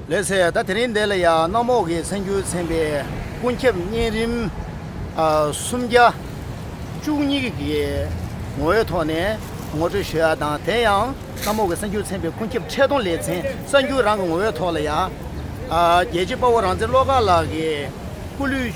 ལེགས་སེ་ད་དེ་རིང་འདི་ལ་ཡང་གནམ་འོག་གི་ཚེ་འགྱུར་ཚན་པའི་ཀུན་ཁྱབ་གཉན་རིམ་སུམ་བརྒྱ་བཅུ་གཉིས་ཀྱི་ངོ་བོའི་ཐོག་ནས་ངོ་སྤྲོད་ཞུ་ཡག་དང་དེ་ཡང་གནམ་འོག་གི་ཚེ་འགྱུར་ཚན་པའི་ཀུན་ཁྱབ་འཕྲལ་སྡོམ་ལེ་ཚན་གསར་འགྱུར་རང་གི་ངོ་བོའི་ཐོག་ལ་ཡང་རྒྱལ་གཅེས་དཔའ་བོ་རང་བཙན་བློ་དགའ་ལགས་ཀྱི་སྐུ་ལུས།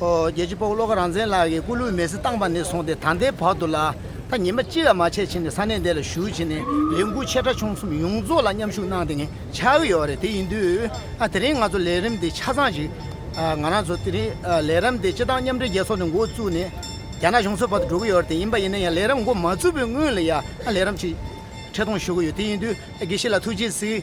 རྒྱལ་སྤྱི་དཔའ་བོ་བློ་དགའ་རང་བཙན་ལགས་ཀྱིས་སྐུ་ལུས་མེ་བསྲེགས་བཏང་པ་ནས་བཟུང་སྟེ་ད་ལྟའི་བར་དུ་ལ་ད་ཉིན་པ་གཅིག་ལ་མ་ཆད་ཕྱིན་ཏེ་ས་གནས་འདི་ལ་བཞུགས་ཕྱིན་ནས་ལས་འགུལ་ཆེ་ཕྲ་ཆུང་གསུམ་ཡོངས་རྫོགས་ལ་མཉམ་ཞུགས་གནང་སྟེ་ངས་ཆགས་ཀྱི་ཡོད་རེད་དེ་ཡིན་དུས་དེ་རིང་ང་ཚོ་ལས་རིམ་འདི་ཆ་ཚང་ཞིག་ང་རང་ཚོ་དེ་རིང་ལས་རམ་འདི་སྤྱི་བཏང་མཉམ་འབྲེལ་རྒྱལ་ཚོགས་ནས་འགོ་བཙུགས་ནས་རྒྱ་ནག་གཞུང་ཚོའི་བར་དུ་འགྲོ་གི་ཡོད་རེད་དེ་ཡིན་པ་ཡིན་ན་ཡང་ལས་རམ་འགོ་མ་བཙུགས་པའི་སྔོན་ལ་ཡང་ལས་རམ་ཞིག་འཕྲལ་གཏོང་ཞུ་གི་ཡོད་དེ་ཡིན་དུས་དགེ་བཤེས་ལ་ཐུགས་རྗེ་གཟིགས།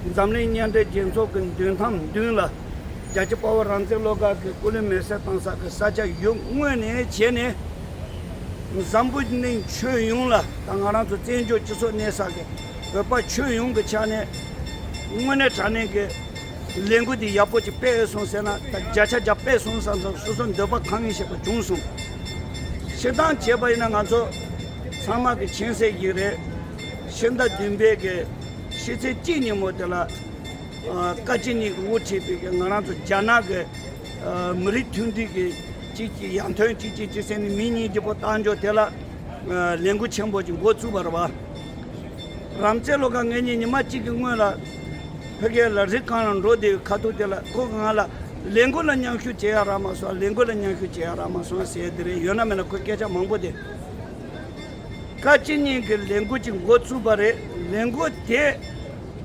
འཛམ་གླིང་མཉམ་འབྲེལ་རྒྱལ་ཚོགས་ཀྱི་མདུན་ཐང་མདུན་ལ། རྒྱལ་སྤྱིའི་དཔའ་བོ་རང་བཙན་བློ་དགའ་གི་སྐུ་ལུས་མེར་བསྲེགས་བཏང་ས་ཀྱི་ས་ཆ་ཡུལ་དངོས་ནས་བྱས་ནས། འཛམ་བུ་གླིང་ཁྱོན་ཡོངས་ལ་དང་ང་རང་ཚོ་བཙན་བྱོལ་སྤྱི་ཚོགས་གནས་ས་ཀྱི་བོད་པ་ཁྱོན་ཡོངས་ཀྱི་ཆ་ནས། དངོས་གནས་དྲང་གནས་ཀྱི་ལས་འགུལ་འདི་ཡག་པོ་ཅིག་སྤེལ་སོང་ཟེར་ན་ད་བརྒྱ་ཆ་བརྒྱ་སྤེལ་སོང་ས་ས་སོ་སོ་འདོད་པ་གང་ཡིན་ཤེས་པ་བྱུང་སོང། ཕྱིར་འདང་བྱས་པ་ཡིན་ན་ང་ཚོ་ཚང་མ་གི་མཁྱེན་གསལ་ཞིག་རེད། ཤིང་རྟ་བདུན་པའི་གི་ཤི་ཚེ་སྐྱིད་ཉིན་མོ་དེ་ལ་བཀའ་སྤྱི་གཉིས་ཀྱི་དབུ་ཁྲིད་པའི་གི་ང་རང་ཚོ་རྒྱ་ནག་གི་མི་རིགས་མཐུན་སྒྲིལ་གི་སྤྱི་གཅིག་ཡང་དོན་སྤྱི་གཅིག་སྤྱི་སེམས་ནི་མི་གཉིས་ཀྱི་པོ་བཏང་འཇོག་དེ་ལ་ལས་འགུལ་ཆེན་པོ་ཅིག་འགོ་བཙུགས་པར་བ་རམ་རྩེ་ལོ་ག་ངེད་གཉིས་ཉི་མ་གཅིག་གི་སྔོན་ལ་ཕེ་ཁེ་ལ་རི་རྐང་ལ་འགྲོ་བདེ་བའི་ཁ་ཐུག་དེ་ལ་ཁོ་གི་ང་ལ་ལས་འགུལ་ལ་མཉམ་ཞུགས་བྱེད་ཡ་རག་མ་སོང་ལས་འགུལ་ལ་མཉམ་ཞུགས་བྱེད་ཡ་རག་མ་སོང་ཟེར་དེ་རེད་ཡོད་ན་མེད་ན་ཁོས་སྐད་ཆ་མང་པོ་དེ། བཀའ་སྤྱི་གཉིས་ཀྱི་ལས་འགུལ་གྱི་འགོ་བཙུགས་པ་རེད། ལས་འགུལ་དེ་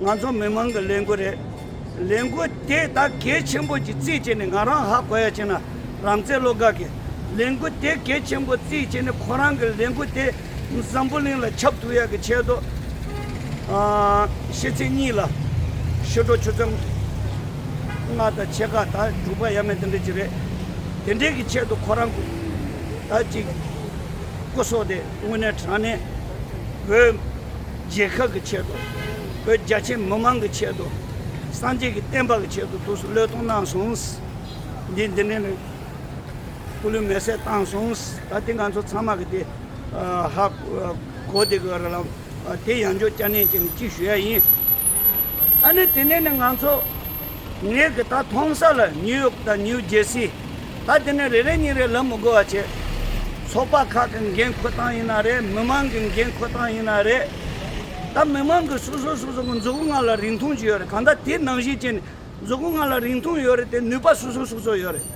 ང་ཚོ་མི་མང་གི་ལས་འགུལ་རེད། ལས་འགུལ་དེ་ད་གལ་ཆེན་པོ་གྱི་རྩིས་བྱས་ནས་ང་རང་ཧ་གོ་ཡ་བྱས་ན་རང་བཙན་བློ་དགའ་གི། ལས་འགུལ་དེ་གལ་ཆེན་པོ་རྩིས་བྱས་ནས་ཁོ་རང་གི་ལས་འགུལ་དེ་འཛམ་བུ་གླིང་ལ་ཁྱབ་ཐུབ་ཡ་གི་ཆེད་དུ། ཤེས་ཚིག་གཉིས་ལ། ཤོ་སྒྲོ་ཆུ་ཚོད། ལྔ་དང་ཕྱེད་ཀ་དང་དྲུག་པ་ཡ་མེད་དེ་འདྲ་གཅིག་རེད། དེ་འདྲའི་གི་ཆེད་དུ་ཁོ་རང། ད་ཅིག། སྐུ་སྲོག་དེ་དངོས་གནས་དྲང་གནས་བོད་རྒྱལ་ཁབ་ཀྱི་ཆེད་དུ་བོད་རྒྱ་ཆེ་མི་མང་གི་ཆེད་དུ་སངས་རྒྱས་ཀྱི་བསྟན་པ་གི་ཆེད་དུ་ཐུགས་སུ་བློས་གཏོང་གནང་སོང། འདི་འདི་ནས་སྐུ་ལུས་མེ་བསྲེགས་བཏང་སོང། ད་ལྟའི་ང་ཚོ་ཚང་མ་གི་དེ་ཧ་གོ་དེ་གི་ར་ལམ་དེ་ཡང་འཇོག་བསྐྱར་ནན་གྱིས་ཅིག་ཞུ་ཡ་ཡིན། ཨ་ནི་དེ་ནས་ནི་ང་ཚོ། ངས་གི་ད་མཐོང་ས་ལ་ཉིའུ་ཡོག་དང་ཉིའུ་རྗེ་སི། ད་དེ་ནས་རེ་རེ་ཉིན་རེ་ལམ་མི་དགོ་བ་བྱེད། ཚོགས་པ་ཁག་གི་འགན་ཁུ་སྟངས་ཡིན་ན་རེད་མི་མང་གི་འགན་ཁུ་སྟངས་ཡིན་ན་རེད། ད་མི་མང་གི་སོ་སོ་སོ་སོ་གི་མཛུ་གུ་ང་ལ་རིང་ཐུང་ཅིག་ཡོད་རེད་གང་ད་དེ་ནང་བཞིན་བྱས་ནས་མཛུ་གུ་ང་ལ་རིང་ཐུང་ཡོད་རེད་དེ་ནུས་པ་སོ་སོ་སོ་སོ་ཡོད་རེད།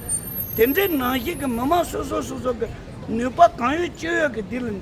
དེ་འདྲའི་ནང་བཞིན་གི་མི་མང་སོ་སོ་སོ་སོ་གི་ནུས་པ་གང་ཡོད་ཅི་ཡོད་གི་དེ་ལ།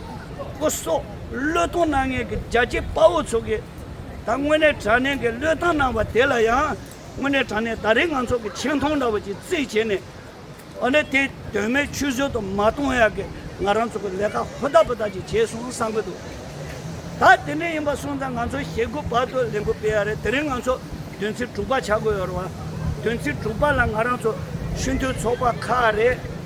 པོ་སོགས་བློས་གཏོང་གནང་མཁན་གྱི་རྒྱ་ཆེའི་དཔའ་བོ་ཚོ་གིས་ད་དངོས་གནས་དྲ་གནས་ཀྱི་བློས་བཏང་གནང་བ་དེ་ལ་ཡང་དངོས་གནས་དྲ་གནས་ད་རེས་ང་ཚོ་གི་ཆེ་མཐོང་འདྲ་བ་ཅིག་བརྩིས་བྱས་ནས་འོ་ན་དེ་དོན་མེད་ཆུད་ཟོས་དུ་མ་གཏོང་ཡག་གི་ང་རང་ཚོ་གི་ལས་ཀ་ཧུར་ཐག་པོ་ཐག་ཅིག་བྱས་སོང་བསམ་གྱི་འདུག་ད་དེ་འདྲ་ཡིན་པ་སོང་ཙང་ང་ཚོ་ཞེ་དགུ་བར་དུ་ལས་འགུལ་སྤེལ་ཡག་རེད་དེ་རིང་ང་ཚོ་དོན་ཚན་དྲུག་པ་བྱ་དགོས་ཡོད་རེད་བ་དོན་ཚན་དྲུག་པ་ལ་ང་རང་ཚོ་ཆུ་མཐུན་ཚོགས་པ་ཁག་རེད།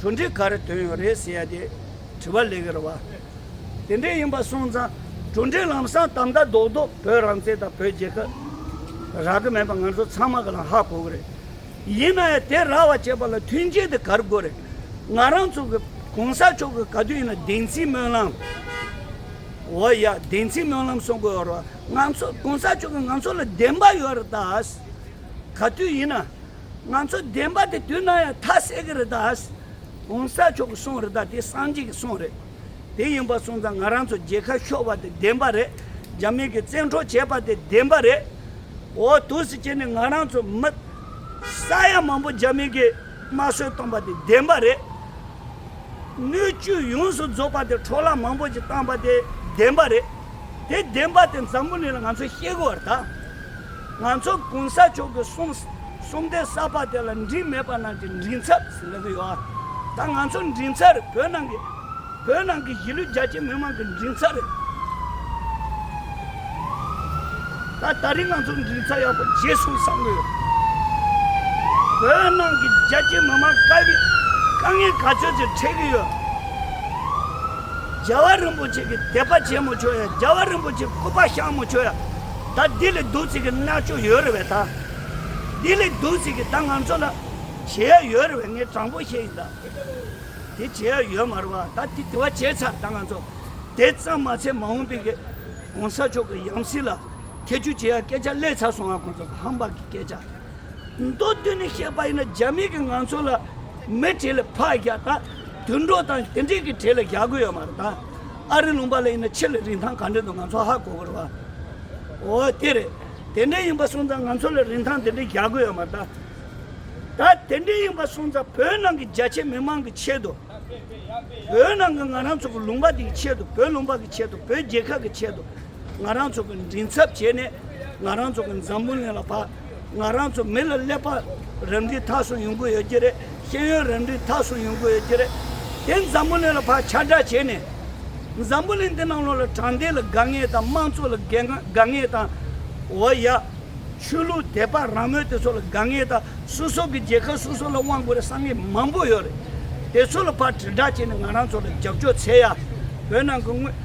གྲུ་འདི་ག་རེ་དོན་ཡོད་རེད་ཟེར་ཏེ་དྲི་བ་ལེགས་རེད་བ། དེ་འདྲས་ཡིན་པ་སོང་ཙང་གྲུ་འདི་ལམ་སང་དམ་མདའ་རྡོག་རྡོག་བོད་རང་བཙན་དང་བོད་རྒྱལ་ཁབ་རག་གི་མེད་པ་ང་ཚོ་ཚང་མ་གི་ལ་ཧ་གོ་གི་རེད། ཡིན་ན་ཡང་དེ་རག་བ་བྱེད་པ་ལ་མཐུན་རྐྱེན་དེ་གར་དགོས་རེད། ང་རང་ཚོ་གི་གོང་ས་མཆོག་གི་ག་དུས་ཡིན་ན་བདེན་ཚིག་སྨོན་ལམ། འོ་ཡ་བདེན་ཚིག་སྨོན་ལམ་སོང་གི་ཡོད་རེད་བ། ང་ཚོ་གོང་ས་མཆོག་གི་ང་ཚོ་ལ་བདེན་པ་ཡོད་རེད་ད། ག་དུས་ཡིན་ན་ང་ཚོས་བདེན་པ་དེ་དུས་ན་ཡང་ཐ་སད་གི་རི་དྭགས ྋགོང་ས་མཆོག་གི་གསུང་རི་དྭགས་དེ་སངས་རྒྱས་ཀྱི་གསུང་རེད། དེ་ཡིན་པ་གསུང་ཙང་ང་རང་ཚོ་རྒྱལ་ཁ་ཤོར་བ་དེ་བདེན་པ་རེད། རྒྱ་མི་གི་བཙན་འཕྲོག་བྱས་པ་དེ་བདེན་པ་རེད། འོ་དུས་སུ་ཁྱེད་ནས་ང་རང་ཚོ་མི་ས་ཡ་མང་པོ་རྒྱ་མི་གི་དམར་གསོད་བཏང་པ་དེ་བདེན་པ་རེད། སྣོད་བཅུད་ཡོངས་སུ་རྫོགས་པ་དེ་འཕྲོ་བརླག་མང་པོ་ཞིག་བཏང་པ་དེ་བདེན་པ་རེད། དེ་བདེན་པ་དེ་འཛམ་བུ་གླིང་ལ་ང་ཚོས་ཤེས་དགོས་བར་ད། ང་ཚོ་གུང་ས་མཆོག་གི་གསུང་གསུམ་སྡེ་གསར་པ་དེ་ལ་འགྲིག་མེད་པ་ནང་གི་མགྲིན་ཚབ་ཟེར་ལེ་གི་ཡོད་ད་ང་ཚོ་མགྲིན་ཚབ་རེད་བོད་ནང་གི་བོད་ནང་གི་གཞིས་ལུས་རྒྱ་ཆེ་མི་མང་གི་མགྲིན་ཚབ་རེད་ད་ད་རིང་ང་ཚོ་མགྲིན་ཚབ་ཡག་པོ་རྗེས་སུ་བསམ་གི་ཡོད་བོད་ནང་གི་རྒྱ་ཆེ་མི་མང་དཀའ་གི་དཀའ་ངལ་ག་ཚོད་ཅིག་འཕྲད་གི་ཡོད་རྒྱལ་བ་རིན་པོ་ཆེ་གི་དད་པ་བྱེད་མི་ཆོག་ཡ་རྒྱལ་བ་རིན་པོ་ཆེ་སྐུ་པར་བཤམ་མི་ཆོག་ཡ། ད་འདི་ལས་སྡུག་ཅིག་གི་མནར་གཅོད་ཡོད་རེད་བས་ད། འདི་ལས་སྡུག་ཅིག་གི་ད་ང་ཚོ་ལ། བྱེད་ཡག་ཡོད་རེད་བས་ངས་དྲང་པོ་བཤད་ཡིན་ད། དེ་བྱེད་ཡག་ཡོད་མ་རེད་བ་ད་དེ་དེ་བ་བྱས་ཚར་ད་ང་ཚོ། དེ་ཙམ་མ་བྱས་མ་འོངས་པའི་གི ྋགོང་ས་མཆོག་གི་ཡང་སྲིད་ལ། ཐེ་ཇུས་བྱེད་ཡག་སྐད་ཆ་གླེད་ཚར་སོང་ང་ཁོང་ཚོ་ཧམ་བག་གི་སྐད་ཆ། མདོ་བསྡུས་ནས་བཤད་པ་ཡིན་ན་རྒྱ་མི་གི་ང་ཚོ་ལ། མི་གྲས་ལ་ཕག་རྒྱག་ད། དུད་འགྲོ་དང་དེ་འདྲས་གི་གྲས་ལ་རྒྱག་དགོས་ཡོད་མ་རེད་ད། ཨ་རི་ལུང་པ་ལ་ཡིན་ན་ཕྱི་ལ་རིན་ཐང་ག་འདྲས་འདུག་ང་ཚོ་ཧ་གོ་དགོས་རེད་བ། འོ་དེ་རེད། དེ་འདྲས་ཡིན་པ་སོང་ཙང་ང་ཚོ་ལ་རིན་ཐང་དེ་འདྲས་རྒྱག་དགོས་ཡོད་མ་རེད། ད་དེ་འདྲས་ཡིན་པ་སོང་ཙང་བོད་ནང་གི་རྒྱ་ཆེ་མི་མང་གི་ཆེད་དུ། བོད་ནང་གི་ང་རང་ཚོ་གི་ལུང་པ་དེ་གི་ཆེད་དུ་བོད་ལུང་པ་གི་ཆེད་དུ་བོད་རྒྱལ་ཁབ་གི་ཆེད་དུ་ང་རང་ཚོ་གི་མགྲིན་ཚབ་བྱས་ནས་ང་རང་ཚོ་གི་འཛམ་བུ་གླིང་ལ་བ། ང་རང་ཚོ་མི་ལ་ཀླད་པ་རབ་འབྲིང་ཐག་སོང་ཡོང་གི་ཡོད་ཀྱི་རེད། ཤེས་ཡོན་རབ་འབྲིང་ཐག་སོང་ཡོང་གི་ཡོད་ཀྱི་རེད། དེ་འཛམ་བུ་གླིང་ལ་བག་ཆགས་འདྲ་བྱས་ནས། འཛམ་བུ་གླིང་འདི་ནང་ལོགས་ལ་དྲང་བདེན་ལ་དགའ་ངེས་དང་དམངས་གཙོ་ལ་དགའ་ངེས་དང། འོ་ཡ། ཆོས་ལུགས་དད་པ་རང་མོས་དེ་ཚོ་ལ་དགའ་ངེས་དང་སོ་སོ་གི་རྒྱལ་ཁབ་སོ་སོ་ལ་དབང་དགོས་རེད་བསམ་ངེས་མང་པོ་ཡོད་རེད། དེ་ཚོ་ལ་བག་དྲི་འདྲ་བྱས་ནས་ང་རང་ཚོ་ལ་རྒྱབ་སྐྱོར་འཚལ་ཡ། བོད་ནང་གི་དངོས།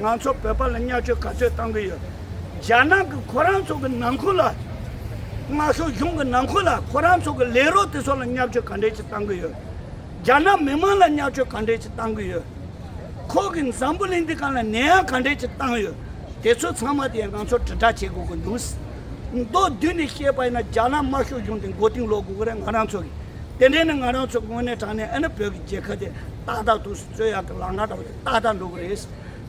ང་ཚོ་བོད་པ་ལ་བསྙལ་བཅོལ་ག་ཚོད་བཏང་གི་ཡོད། རྒྱ་ནག་གི་ཁོ་རང་ཚོ་གི་ནང་ཁུལ་ལ། དམར་ཤོག་གཞུང་གི་ནང་ཁུལ་ལ་ཁོ་རང་ཚོ་གི་ལས་རོགས་དེ་ཚོ་ལ་བསྙལ་བཅོལ་ག་འདྲས་ཅིག་བཏང་གི་ཡོད། རྒྱ་ནག་མི་དམངས་ལ་བསྙལ་བཅོལ་ག་འདྲས་ཅིག་བཏང་གི་ཡོད། ཁོ་གི་འཛམ་བུ་གླིང་འདི་ག་ལ་ནད་ཡམས་ག་འདྲས་ཅིག་བཏང་ཡོད། དེ་ཚོ་ཚང་མ་དེ་ང་ཚོ་དྲིལ་བསྒྲགས་བྱེད་དགོས་གི་འདུག། མདོ་བསྡུས་ནས་བཤད་པ་ཡིན་ན་རྒྱ་ནག་དམར་ཤོག་གཞུང་དེ་མགོ་རྟིང་སློག་དགོས་གི་རེད་ང་རང་ཚོ་གི། དེ་འདྲས་ནས་ང་རང་ཚོ་དངོས་གནས་དྲང་གནས་ཨེ་ན་བོད་ཀྱི་རྒྱལ་ཁབ་དེ་ཏག་ཏག་ཏུ། རྩོད་ཡག་གི་ལག་ངར་དང་ཏག་ཏག་འགྲོ་གི་རེད།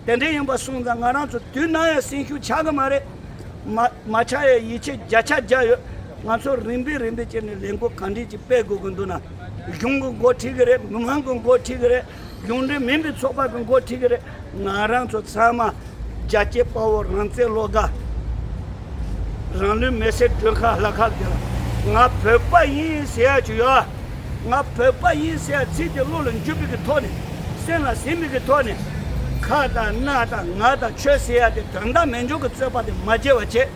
དེ་འདྲའི་ཡིན་པ་སོང་ཙང་ང་རང་ཚོ་དུས་ནམ་ཡང་སེམས་ཤུགས་ཆག་གི་མ་རེད། མ་མ་ཆག་ཡས་ཡིད་ཆེས་བརྒྱ་ཆ་བརྒྱ་ཡོད། ང་ཚོ་རིམ་པས་རིམ་པས་བྱས་ནས་ལས་འགུལ་གང་དྲན་ཅིག་སྤེལ་དགོས་གི་འདུག་ན། གཞུང་གི་འགོ་ཁྲིད་གི་རེད་མི་མང་གི་འགོ་ཁྲིད་གི་རེད་གཞུང་འབྲེལ་མིན་པའི་ཚོགས་པ་གི་འགོ་ཁྲིད་གི་རེད། ང་རང་ཚོ་ཚང་མ། རྒྱ་སྐྱེད་དཔའ་བོ་རང་བཙན་བློ་དགའ། རང་ལུས་མེར་སྲེག་སྒྲོལ་དཀར་ལྷ་ཁ་བརྒྱ། ང་བོད་པ་ཡིན་ཟེར་ཡག་བྱོས་ཡོ། ང་བོད་པ་ཡིན་ཟེར་ཚིག་དེ་བློ་ལ་འཇུ་བི་གི་ཐོག་ནས། སེམས་ལ་ཟིན་བི་གི་ཐོག་ནས། ཁ་དང་སྣ་དང་ངག་དང་ཆོས་ཟེར་ཡག་དེ་དོན་དག་མེད་འཇོག་གི་རྩོད་པ་དེ་མ་བྱེད་བ་བྱས།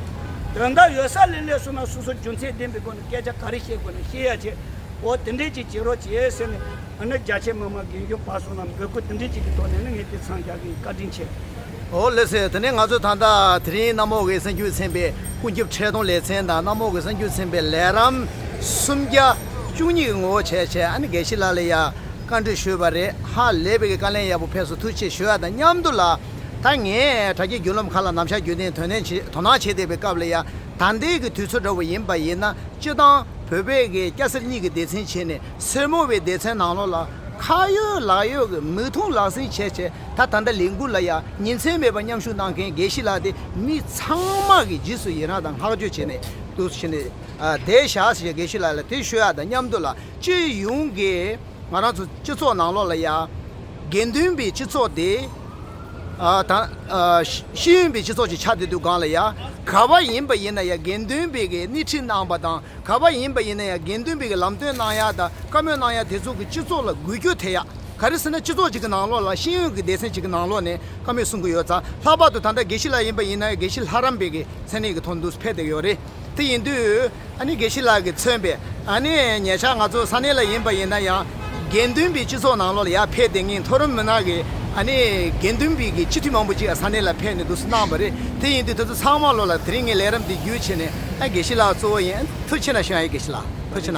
དོན་དག་ཡོད་ས་ལེ་ལེ་སོང་ན་སོ་སོ་རྒྱུ་མཚན་ལྡན་པའི་སྒོ་ནས་སྐད་ཆ་ག་རེ་བཤད་དགོས་ན་བཤད་ཡག་བྱས། འོ་དེ་འདྲས་ཅིག་བྱེད་རོགས་བྱས་ཟེར་ནས། ཨ་ནི་རྒྱ་ཆེ་མི་མ་དགེ་འདུན་པ་སོགས་རྣམས་འབོད་སྐུལ་འདི་འདྲས་ཅིག་གི་ཐོག་ནས་ནི་ངས་དེ་ཚང་རྒྱག་གི་ཡིན་བཀའ་དྲིན་ཆེ། ཨོ་ལེ་སི་དེ་ནས་ང་ཚོས་ད་ལྟ་དེ་རིང་གནམ་འོག་གི་གསང་རྒྱུད་ཚན་པའི་ཀུན་ཁྱབ་འཕྲལ་སྡོམ་ལེ་ཚན་དང་གནམ་འོག་གི་གསང་རྒྱུད་ཚན་པའི་ལས་རམ། སུམ་བརྒྱ། བཅུ་གཉིས་ཀྱི་ངོ་བོ་བྱས་བྱས་ཨ་ནི་དགེ་བཤེས་ལགས་ལ་ཡང་བཀའ་འདྲི་ཞུས་པ་རེད་ཧ་ལས་པའི་གི་བཀའ་ལན་ཡག་པོ་ཕེབས་སུ་ཐུགས་ཆེ་ཞུ་ཡག་དང་མཉམ་དུ་ལ་ད་ངས་དྲ་རྒྱའི་རྒྱུད་ལམ་ཁག་ལ་ནམ་ཞར་བརྒྱུད་དེ་དོན་ནན་བྱེད་དོ་སྣང་བྱེད་བསྡད་པའི་སྐབས་ལ་ཡང་ད་འདས་ཀྱི་དུས་ཚོད་འདྲ་བོ་ཡིན་པ་ཡིན་ན་སྤྱི་བཏང་བོད་པའི་གི་སྐྱ་སེར་གཉིས་ཀྱི་སྡེ་ཚན་བྱས་ནས་སེར་མོ་བའི་སྡེ་ཚན་ནང་ལོགས་ལ་ཁ་ཡོད་ལག་ཡོད་ཀྱི་མིག་མཐོང་ལག་ཟིན་བྱས་བྱས་ད་ད་ལྟ་ལས་འགུལ་ལ་ཡང་ཉིན་མཚན་མེད་པར་མཉམ་ཞུགས་གནང་མཁན་དགེ་བཤེས་ལགས་ཏེ་མི་ཚང་མ་གི་རྗེས་སུ་ཡི་རངས་དང་བསྔགས་བརྗོད་བྱེད་ནས་འདུག་ཕྱིན་ནས་དེའི་ཞག་ཟེར་བྱས་དགེ་བཤེས་ལགས་ལ་དེ་ཤོད་ཡ་དང་མཉམ་དུ་ལ་སྤྱི་ཡོངས་ཀྱི་ང་རང་ཚོ་སྤྱི་ཚོགས་ནང་ལོགས་ལ་ཡ་དགེ་འདུན་པའི་སྤྱི་ཚོགས་དེ་དང། ཤེས་ཡོན་པའི་སྤྱི་ཚོགས་ཀྱི་ཆ་དེ་དུ་སྒང་ལ་ཡ་ག་བ་ཡིན་པ་ཡིན་ན་ཡ་དགེ་འདུན་པའི་གི་སྣེ་ཁྲིད་གནང་པ་དང་ག་པ་ཡིན་པ་ཡིན་ན་ཡང་དགེ་འདུན་པའི་ལམ་སྟོན་གནང་ཡ་དང་བཀའ་མོལ་གནང་ཡ་དེ་ཚོ་གི་སྤྱི་ཚོགས་ལ་འགུལ་སྐྱོད་ཐེབས་ཡ་ག་རེ་ཟེར་ན་སྤྱི་ཚོགས་ཅིག་གི་ནང་ལོགས་ལ་ཤེས་ཡོན་གི་སྡེ་ཚན་ཅིག་གི་ནང་ལོགས་ནས་བཀའ་མོལ་གསུང་གི་ཡོད་ཙང་ལྷག་པར་དུ་ད་ལྟ་དགེ་བཤེས་ལགས་ཡིན་པ་ཡིན་ན་ཡང་དགེ་བཤེས་ལྷ་རམས་པའི་གི་མཚན་གནས་གི་ཐོག་འདུག་ཕེབས་ཐེབས་ཡོད་རེད་དེ་ཡིན་དུས་ཨ་ནི་དགེ་བཤེས་ལགས་གི་མཚོན་པའི་ཨ་ནི་ཉེ་ཆར་ང་ཚོ་ས་གནས་ལ་ཡིན་པ་ཡིན་ན་ཡང་དགེ་འདུན་པའི་སྤྱི་ཚོགས་ནང་ལོགས་ལ་ཡར་ཕེབས་ཏེ་ངའི་མཐོ་རིམ་མི་ནག་གི་ཨ་ནི་དགེ་འདུན་པའི་གི་སྤྱི་འཐུས་མང་པོ་ཅིག་ཡང་ས་གནས་ལ་ཕེབས་ནས་འདུག་གནང་བ་རེད་དེ་ཡིན་དུས་དེ་ཚོ་ཚང་མ་ལོགས་ལ་དེ་རིང་ངའི་ལས་རམས་འདི་བརྒྱུད་ཆེ་ནས། ཨེ་དགེ་བཤེས་ལགས་གཙོ་བོ་ཡིན། མཐུ་ཆེ་ན་ཞུ་ཨེ་དགེ་བཤེས་ལགས་མཐུ་ཆེ་ན།